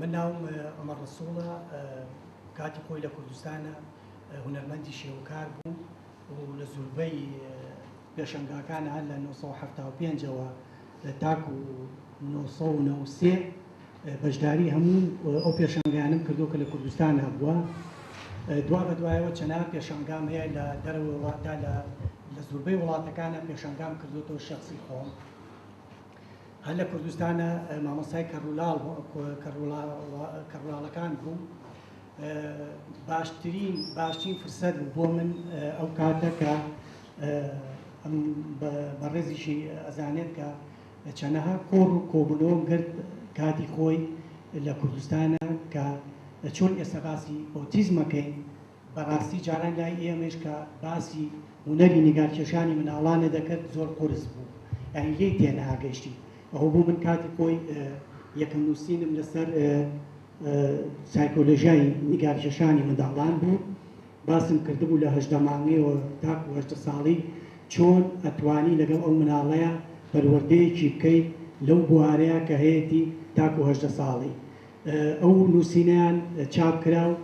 من ناوم عومەر ڕەسووڵە کاتی خۆی لە کوردستانە هونەرمەندی شێوەکار بووم و لە زوربەی پێشەنگاکان هەر لە 1975ەوە تاکو 1993 بەشداری هەموو ئەو پێشەنگانم کردو کە لە کوردستان هەبووە دوا بە دوایەوە چەنا پێشەنگام هەیە لە دەرەوە وڵاتدا لە لە زوربەی وڵاتەکانە پێشەنگام کردوەوە شخصی خۆم هەر لە کوردستانە مامۆستای کەڕولاڵ کەڕولاڵەکان بوو باشترین باشترین فرسەت بوو بۆ من ئەو کاتە کە بەڕێزیشی ئەزانێت کە چەنەها کۆڕ و کۆبنەوەم گرت کاتی خۆی لە کوردستانە کە چۆن ئێستا باسی ئۆتیزمەکەین بەڕاستی جاران لای ئێمەیش کە باسی هونەری نیگارکێشانی مناڵانێ دەکرد زۆر قورس بوو یانی لێی تێناگەشتی ئەوە بوو من کاتی خۆی یەکەم نووسینم لەسەر سایکۆلژیای نیگارکێشانی منداڵان بوو باسم کردبوو لە هەشدە مانگەیەوە تاکو هەشتە ساڵی چۆن ئەتوانی لەگەڵ ئەو مناڵەیە پەروەردەیەکی بکەیت لەو بوارەیە کە هەیەی تاکو هەشدە ساڵی ئەو نووسینەیان چاپ کرا و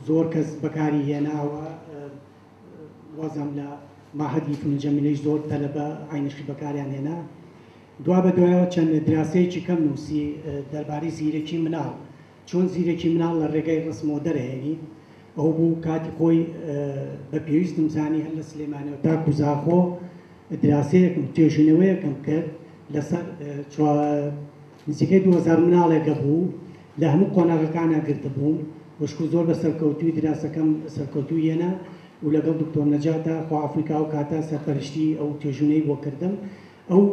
زۆر کەس بەکاری هێناوە، وازم لە مەعهەدی فنون جمیلەیش زۆر تەلەبە عەینەشی بەکاریان هێنا. دوا بە دوایەوە چەند دراسەیەکی کەم نووسی دەربارەی زیرەکی مناڵ، چۆن زیرەکی مناڵ لە ڕێگای ڕەسمەوە دەرئەهێنی. ئەو بوو کاتی خۆی بە پێویستم زانی هەر لە سلێمانییەوە تاکوو زاخۆ دراسەیەکم، توێژینەوەیەکم کرد لەسەر چوا، نزیکەی دوو هەزار مناڵێک هەبوو لە هەموو قۆناغەکانا گرتبووم وشکو زۆر بە سەرکەوتووی دراسەکەم سەرکەوتوو یەنا و لەگەڵ دکتۆر نەجاتە خوا عەفوی کا ئەو کاتە سەرپەرشتی ئەو توێژوونەی بۆ کردم ئەو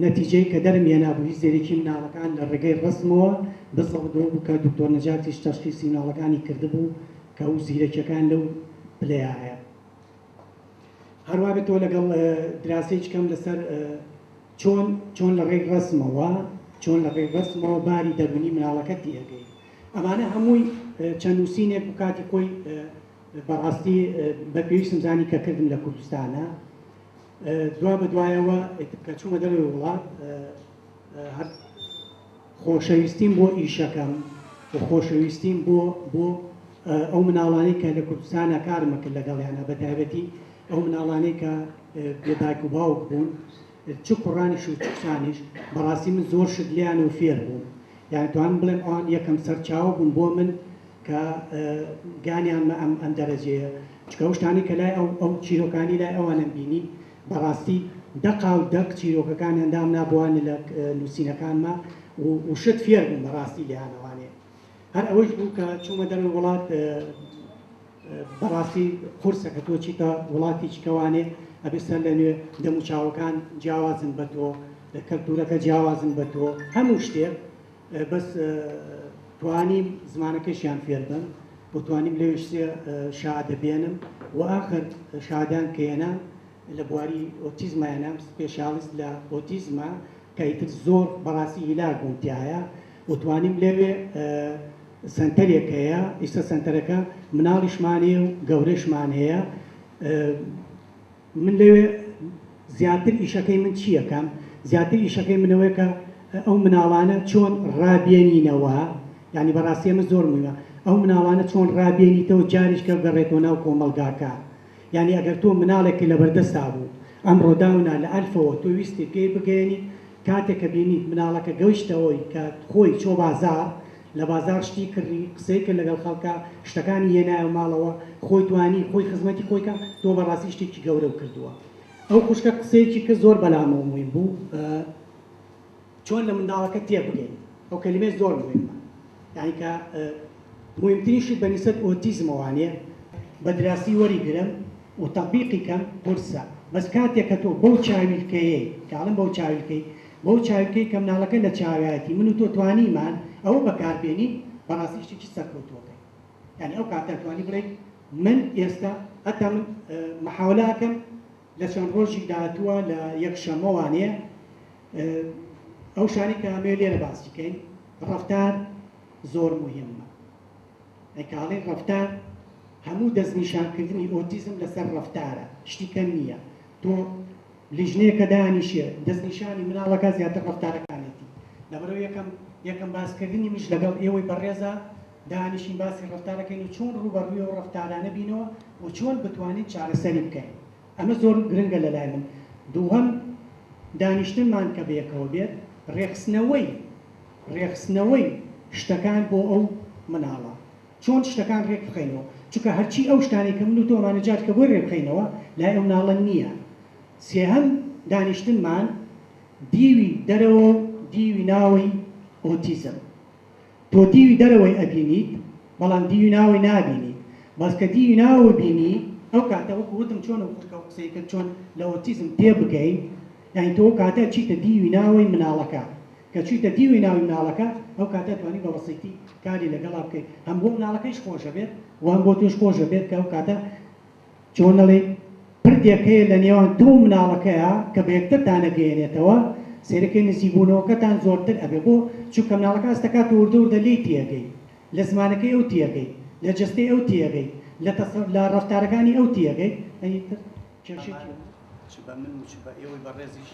نەتیجەی کە دەرم یەنا بوو هیچ زێرێکی مناڵەکان لە ڕێگەی ڕەسمەوە بزەوت بۆ بوو کە دکتۆر نەجاتیش تەشخیسی مناڵەکانی کردبوو کە ئەو زیرەکیەکان لەو پلەیە هەیە. هەروابێتەوە لەگەڵ دراسەیچ کەم لەسەر چۆن چۆن لە ڕێی ڕسمەوە چۆن لە ڕێی ڕسمەوە باری دەرونی مناڵەکە تێگەی ئەمانە هەمووی چەند نووسینێک و کاتی خۆی بەڕاستی بە پێویستم زانی کە کردم لە کوردستانە دوا بە دوایەوە کە چوومە دەروی وڵات هەر خۆشەویستیم بۆ ئیشەکەم و خۆشەویستیم بۆ بۆ ئەو مناڵانەی کە لە کوردستانە کارم ئەکرد لەگەڵیانا بە تایبەتی ئەو مناڵانەی کە بێ دایک و باوک بوون چ کوڕانیش و چ کچانیش بەڕاستی من زۆر شت لێیانەوە فێر بووم یان توانم بڵێم ئەوان یەکەم سەرچاوە بوون بۆ من کە گانیانمە ئەم ئەم دەرەجەیە چکە ئەو شتانەی کە لای ئەو ئەو چیرۆکانی لای ئەوانم بینی بەڕاستی دەقا و دەق چیرۆکەکانیان دامنا بوە نلە نوسینەکانما و وشت فێر بووم بەڕاستی لێیانەوانێ هەر ئەوەیش بوو کە چوومە دەرەوەی وڵات بەڕاستی قورسە کە تۆ چیتە وڵاتیچ کەوانێ ئەبێ سەر لە نوێ دەم و چاوەکان جیاوازن بە تۆ کەلتورەکە جیاوازن بە تۆ هەموو شتێک بەس توانیم زمانەکەشیان فێر بم و توانیم لەوێش سێ شادە بێنم و ئاخر شادان کێنە لە بواری ئۆتیزمایانە سپێشالیست لە ئۆتیزمە کە ئیتر زۆر بەڕاستی هیلاک بووم تایە و توانیم لەوێ سنتەرێک هەیە ئیستا سنتەرەکە مناڵیشمان هەیە و گەورەشمان هەیە من لەوێ زیاتر ئیشەکەی من چییە کەم؟ زیاتر ئیشەکەی من ئەوەیە کە ئەو مناڵانە چۆن ڕابێنینەوە، یانی بەڕاستی ئەمە زۆر مویمە، ئەو مناڵانە چۆن ڕابێنیتەوە جاریش کە گەڕێتەوە ناو کۆمەڵگاکە. یانی ئەگەر تۆ مناڵێک کە لەبەردەستا بوو، ئەمڕۆ داونا لە ئەلفەوە تۆ ویستی پێی بگەیەنیت کاتێ کە بینیت مناڵەکە گەوشتە ئەوەی کە خۆی چۆ بازاڕ لە بازاڕ شتی کڕی قسەی کرد لەگەڵ خەڵکا شتەکانی هێنایەوە ماڵەوە خۆی توانی خۆی خزمەتی خۆی کا تۆ بەڕاستی شتێکی گەورەو کردووە ئەو خوشکە قسەیەکی کرد زۆر بەلامەوە مویم بوو چۆن لە منداڵەکە تێ بگەین ئەو کەلیمەی زۆر مویمە یانی کە مویمترین شت بە نیسبەت ئۆتیزمەوانێ بە دراسی وەری گرم. و تەتبیقی کەم قورسە بەس کاتێک کە تۆ بەو چاویلکەیەی کە ئەڵێم بەو چاویلکەی بەو چاویلکەی کە مناڵەکە لە چاوایەتی من و تۆ توانیمان ئەوە بەکار بێنین بەڕاستی شتێکی سەرکەوتووەکەین یانی ئەو کاتە ئەتوانی بڵێی من ئێستا هەتا من محاولە ئەکەم لە چەند ڕۆژی داهاتووە لە یەک شەمە وانەیە ئەو شانی کە ئەمێ لێرە باسی کەین ڕفتار زۆر مهمە کاڵی ڕەفتار، هەموو دەستنیشانکردنی ئۆتیزم لەسەر ڕەفتارە، شتی کەم نییە تۆ لیژنەیەکە دانیشێ دەستنیشانی مناڵەکە زیاتر ڕەفتارەکانێتی، لەبەرئەوەی یەکەم یەکەم باسکردنی منیش لەگەڵ ئێوەی بەڕێزا دانیشین باسی ڕەفتارەکەین و چۆن ڕووبەڕووی ئەو ڕەفتارانە بینەوە و چۆن بتوانین چارەسەری بکەین ئەمە زۆر گرنگە لەلای من دووهەم دانیشتنمان کە بەیەکەوە بێت ڕێکخستنەوەی رێکخستنەوەی شتەکان بۆ ئەو مناڵە چۆن شتەکان رێک بخەینەوە چونکە هەرچی ئەو شتانەی کە من و تۆ مان جات کە بۆی رێ بخەینەوە لای ئەو مناڵە نیە سێهەم دانیشتنمان دیوی دەرەوە و دیوی ناوەی ئۆتیزم تۆ دیوی دەرەوەی ئەبینیت بەڵام دیوی ناوەی نابینیت بەس کە دیوی ناوەی بینی ئەو کاتە وەکو وتم چۆن و قسەی کرد چۆن لە ئۆتیزم تێ بگەین یانی تۆ ئەو کاتە چیتە دیوی ناوەی مناڵەکە کە چویتە دیوی ناوی مناڵەکە ئەو کاتە توانی بە بەسیتی کاری لەگەڵا بکەی هەم بۆ مناڵەکەیش خۆش ئەبێت و هەم بۆ تۆش خۆش ئەبێت کە ئەو کاتە چۆن ئەڵێی پردێک هەیە لە نێوان تۆ و مناڵەکەیا کە بە یەکترتان ئەگەیەنێتەوە سەیرەکەی نزیک بوونەوەکەتان زۆرتر ئەبێ بۆ چونکە مناڵەکە هەست ئەکات تۆ وردە وردە لێی تێ ئەگەی لە زمانەکەی ئەو تێ ئەگەی لە جەستەی ئەو تێ ئەگەی لە تەسە لە ڕەفتارەکانی ئەو تێ ئەگەی ئەی تر کێشەی چیە؟ چ بە من و چ بە ئێوەی بەڕێزیش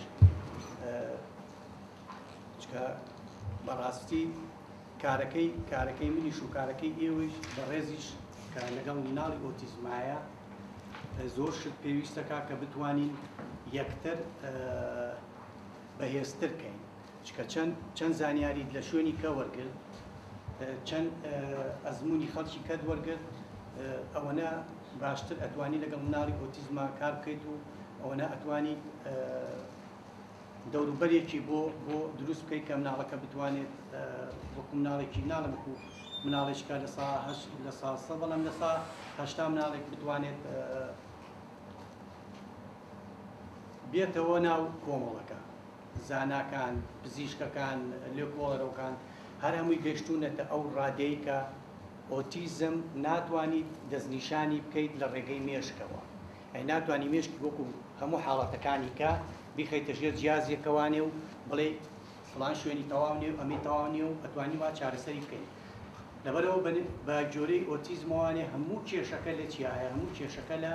چکە بەڕاستی کارەکەی کارەکەی منیش و کارەکەی ئێوەیش بەڕێزیش کە لەگەڵ مناڵی ئۆتیزمایە زۆر شت پێویستەکە کە بتوانین یەکتر بەهێزترکەین چکە چەند چەند زانیاریت لە شوێنی کە وەرگرت چەند ئەزمونی خەڵکی کەت وەرگرت ئەوەنە باشتر ئەتوانی لەگەڵ مناڵی ئۆتیزما کار بکەیت و ئەوەنە ئەتوانی دەوروبەرێکی بۆ بۆ دروست بکەیت کە مناڵەکە بتوانێت وەکو مناڵێکی ناڵە وەکو مناڵێککە لە سا لە ساسە بەڵام لە سا هەشتا مناڵێک بتوانێت بێتەوە ناو کۆمەڵەکە زاناکان، پزیشکەکان، لێکۆڵەرەوکان هەر هەمووی گەشتوونەتە ئەو ڕادەی کە ئۆتیزم ناتوانیت دەستنیشانی بکەیت لە ڕێگەی مێشکەوە. یانی ناتوانی مێشکی وەکو هەموو حاڵەتەکانی کە بیخەیتە ژێر جیازێکەوانێ و بڵێی فڵان شوێنی تەواو نیە و ئەمەی تەواو نیە و ئەتوانی وا چارەسەری بکەی. لەبەرئەوە بە گۆرەی ئۆتیزمەوانێ هەموو کێشەکە لە چیایە؟ هەموو کێشەکە لە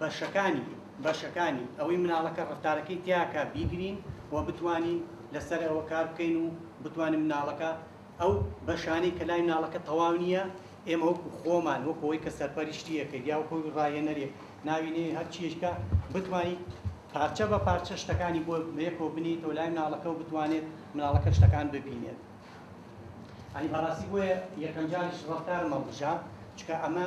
بەشەکانی، بەشەکانی، ئەوەی مناڵەکە ڕەفتارەکەی تیاکا بیگرین و بتوانین لەسەر ئەوە کار بکەین و بتوانین مناڵەکە ئەو بەشانەی کە لای مناڵەکە تەواو نییە ئێمە وەکو خۆمان وەکو ئەوەی کە سەرپەرشتیەکەی یا وەکو ڕاهێنەرێک ناوی نێی هەر چیەکە بتوانین پارچە بە پارچە شتەکانی بۆ یەکەوە بنیتەوە لای مناڵەکە و بتوانێت مناڵەکە شتەکان ببینێت ئەنی بەڕاستی بۆیە یەکەم جاریش ڕەفتارم هەڵبژارد چکە ئەمە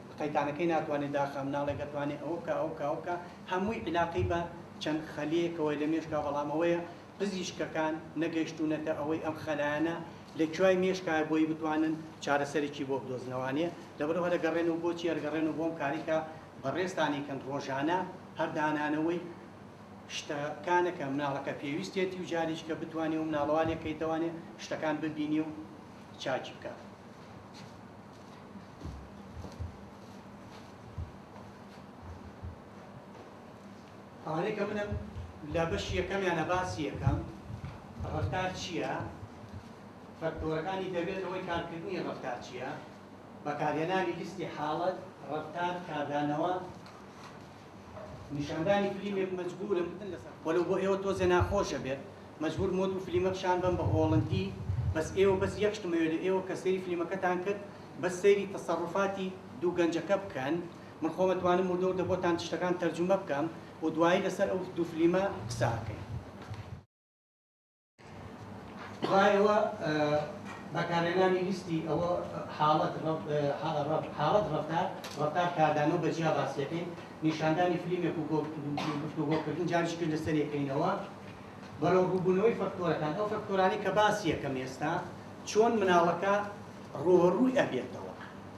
قەیتانەکەی ناتوانێ داخە مناڵێک ئەتوانێ ئەوە بکا ئەوە بکا ئەوە بکا هەمووی عیلاقەی بە چەند خەلیەکەوەی لە مێشکا بەڵام ئەوەیە پزیشکەکان نەگەیشتوونەتە ئەوەی ئەم خەلایانە لە کوای مێشکایە بۆی بتوانن چارەسەرێکی بۆ بدۆزنەوانێ لەبەرو هەر ئەگەڕێن و بۆچی ئەرگەڕێن و بۆم کارەی کە بەڕێزتان ئەیکەن ڕۆژانە هەر دانانەوەی شتە کانە کە مناڵەکە پێویستێتی و جاریش کە بتوانێ و مناڵەوا لێ کەیتەوانێ شتەکان ببینێ و چاکی بکا. ئەوانەی کە منم لە بەشی یەکەمیانە باسی یەکەم ڕفتار چییە فەکتۆرەکانی دەبێتەوەی کارکردنی ڕفتار چییە بەکارهێنانی لیستی حاڵەت ڕفتار کاردانەوە نیشاندانی فلیمێک مەجبورم وەلەو بۆ ئێوە تۆزێ ناخۆشە بێت مەجبورم وەدوو فلیمە پشان بەم بە هۆڵندی بەس ئێوە بەس یەک شتم ئەوێ لە ئێوە کە سەیری فلیمەکەتان کرد بەس سەیری تەسەڕوفاتی دوو گەنجەکە بکەن من خۆم ئەتوانم وردە وردە بۆتان شتەکان تەرجومە بکەم و دوایی لەسەر ئەو دوو فلیمە قسە ئەکەین. دوایەوە بەکارهێنانی لیستی ئەوە حاڵەت حاڵەت ڕفتار ڕفتار کاردانە و بەجیا باسیەکەین نیشاندانی فلیمێک و گفتوگۆکردن جاریش کرد لەسەر یەکەینەوە بەرەو ڕووبوونەوەی فەکتۆرەکان ئەو فەکتۆرانی کە باسی یەکەم ئێستا چۆن مناڵەکە ڕۆڕووی ئەبێتەوە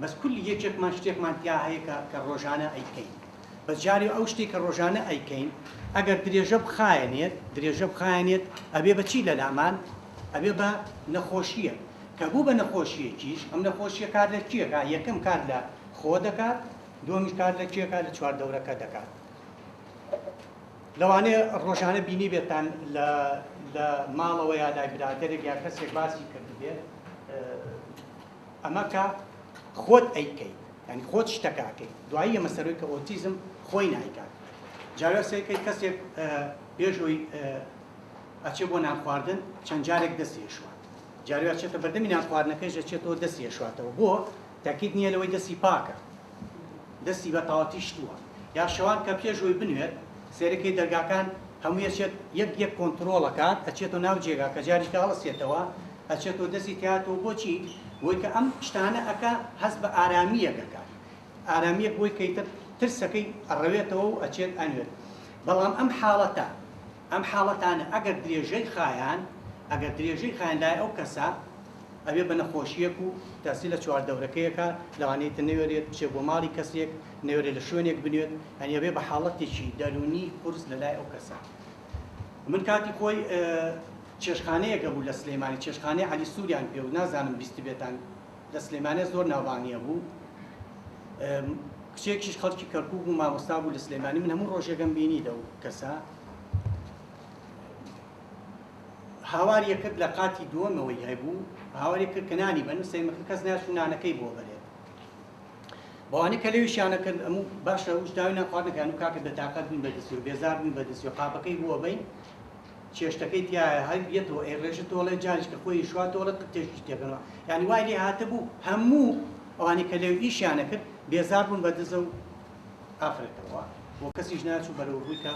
بەس کولی یەکێکمان شتێکمان تیا هەیە کە کە ڕۆژانە ئەیکەین بەس جارێ ئەو شتێک کە ڕۆژانە ئەیکەین ئەگەر درێژە بخایەنێت درێژە بخایەنێت ئەبێ بە چی لەلامان ئەبێ بە نەخۆشییە کە بوو بە نەخۆشیەکیش ئەم نەخۆشیە کار لە کیەکە یەکەم کار لە خۆ دەکات دومی کار لە کێکە لە چواردەورەکە دەکات لەوانەیە ڕۆژانە بینی بێتان لە لە ماڵەوە یا لای برادێک یا کەسێک باسی کردبێت ئەمە کە خۆت ئەیکەیت یانی خۆت شتەکە ئەکەیت دوایی ئەمە سەروی کە ئۆتیزم خۆی نایکات جاوێ سەیرکەی کەسێک بێژووی ئەچێ بۆ نانخواردن چەند جارێک دەستی شوات جاروی ئەچێتە بەردەمی نانخواردنەکەیش ئەچێتەوە دەستی شواتەوە بۆ تاکیت نییە لەوەی دەستی پاکە دەستی بە تاواتی شتووە یا شەوان کە پێشووی بنوێت سێرەکەی دەرگاکان هەموویەچێت یەک یەک کۆنتترۆڵەکات ئەچێتەوە ناو جێگا کە جاریکە هەڵسێتەوە ئەچێتۆ دەستی تیاتۆ بۆچی بۆی کە ئەم شتانە ئەکا هەست بە ئارامیەک ئەکا ئارامیەک بۆی کەیتر ترسەکەی ئەڕەوێتەوە و ئەچێت ئەنوێت بەڵام ئەم حاڵەتە ئەم حاڵەتانە ئەگەر درێژەی خایان ئەگەر درێژەی خایان لای ئەو کەسە ئەوێ بە نەخۆشیەک و دەستی لە چوار دەورەکەیەکە لەوانەیە تر نەوێرێت بچێ بۆ ماڵی کەسێک نەوێرێت لە شوێنێک بنوێت یانی ئەوێ بە حاڵەتێکی دەرونی قورس لە لای ئەو کەسە من کاتی خۆی چێشتخانەیەک هەبوو لە سلیمانی چێشتخانەی علی سوریان پێوت نازانم بیستبێتان لە سلیمانێ زۆر ناوبانگی هەبوو کچێکیش خەڵکی کەرکوک بوو مامۆستا بوو لە سلیمانی من هەموو ڕۆژێکم بینی لەو کەسە هاوار یەکرد لە قاتی دووەمەوەی هەبوو هاواری کرد کە نانی بەن سەیمەکە کەس ناچوو نانەکەی بۆ بەرێت بەوانی کە لەویشیانە کرد ئەموو باشە وش داوی ناخواردنەکان و کاکە بەتاقەت بووین بە دەستی و بێزار بووین بە دەستی و قاپەکەی بووە بین چێشتەکەی تیایە هەر یەتەوە ئەی ڕێژە تۆڵێ جاریش کە خۆی شوا تۆڵێ قرتێژیش تێگەڕا یانی وای لێ هاتبوو هەموو ئەوانی کە لێو ئیشیانە کرد بێزار بوون بە دزە و ئافرەتەوە بۆ کەسیش ناچوو بەرەو ڕووی کە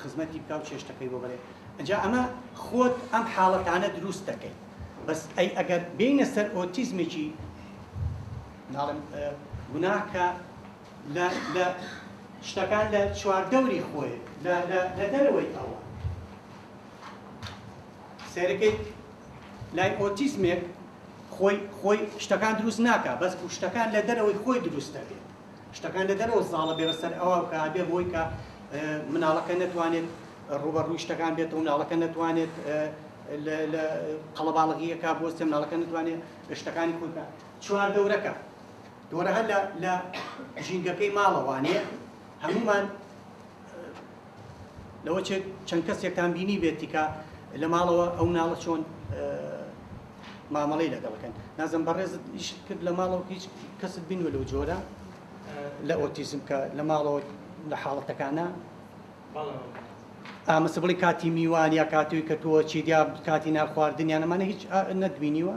خزمەتی بکە و چێشتەکەی بۆ بەرێ ئەجا ئەمە خۆت ئەم حاڵەتانە دروست دەکەیت بەس ئەی ئەگەر بینە سەر ئۆتیزمێکی ناڵم گوناهکە لە لە شتەکان لە چواردەوری خۆی لە لە لە دەرەوەی ئەوە سێرەکەی لای ئۆتیزمێک خۆی خۆی شتەکان دروست ناکە بەس بوو شتەکان لە دەرەوەی خۆی دروست دەبێت شتەکان لە دەرەوە زاڵە بێ بەسەر ئەوە کە بێ بۆی کە مناڵەکە نەتوانێت ڕوبەڕووی شتەکان بێت و مناڵەکە نەتوانێت لە قەڵەباڵغیەکە بۆ سێ مناڵەکە نتوانێت شتەکانی خۆکە چوار دەورەکە دۆرە هەر لە لە ژینگەکەی ماڵە وانێ هەمومان لەوە چێت چەند کەسێکتان بینی بێت تیکا لە ماڵەوە ئەو ناڵە چۆن مامەڵەی لەگەڵەکەن نازم بەڕێزت ئیش کرد لە ماڵەوە هیچ کەست بینوە لەو جۆرە لە ئۆتیزم کە لە ماڵەوە لە حاڵەتەکانە ئامەسە بڵی کاتی میوان یا کاتوی کە تۆ چیدیا کاتی ناخواردنیان ئەمانە هیچ نەدبینیوە